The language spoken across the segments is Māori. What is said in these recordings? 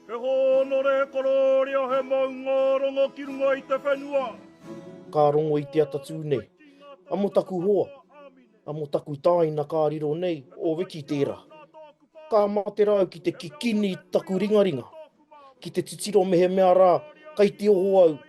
He hōnore korōria, he maunga rongo ki runga i te whenua. Ka rongo i te atatū nei. Amo taku hoa, amo taku tāina ka riro nei, o Riki tērā. Ka mate rāu ki te kikini taku ringaringa, ki te titiro mehemea rā kai te oho au,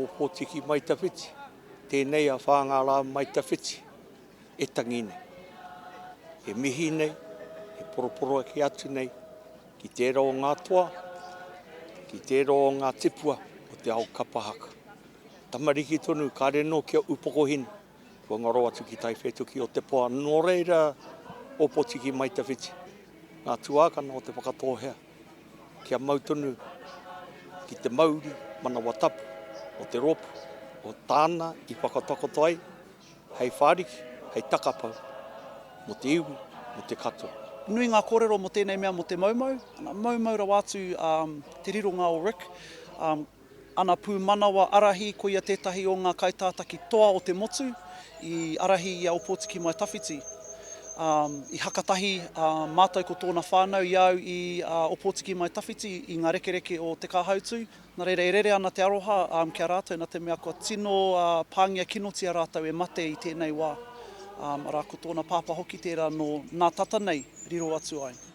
O Potiki mai tawhiti, tenei a Whāngārā mai tawhiti e tangi nei. E mihi nei, e poroporoaki atu nei ki tērā o ngā toa, ki tērā o ngā tipua o te ao kapa haka. Tamariki tonu, kāre nō kia upokohina. Kua ngaro atu ki Taiwhētuki o Te Poa, nō reira Ōpōtiki mai te whiti. Ngā tuākana o Te Whakatōhea kia mau tonu ki te mauri manawa tapu o te rōpū, o tāna i whakatakoto ai hei whāriki, hei takapau mō te iwi, mō te katoa. Nui ngā kōrero mō tēnei mea mō te maumau, ana, maumau rawa atu te rironga o Rick. Ana pūmanawa arahi koia tētahi o ngā kaitātaki toa o te motu i arahi i a Opotiki Mai Tawhiti. I hakatahi mātou ko tōna whānau i au i a Opotiki Mai Tawhiti i ngā rekereke o Te Kāhautū, nā reira e rere ana te aroha ki a rātou nā te mea kua tino pāngia kinotia rātou e mate i tēnei wā, arā ko tōna pāpā hoki tērā nō nā tata nei riro atu ai.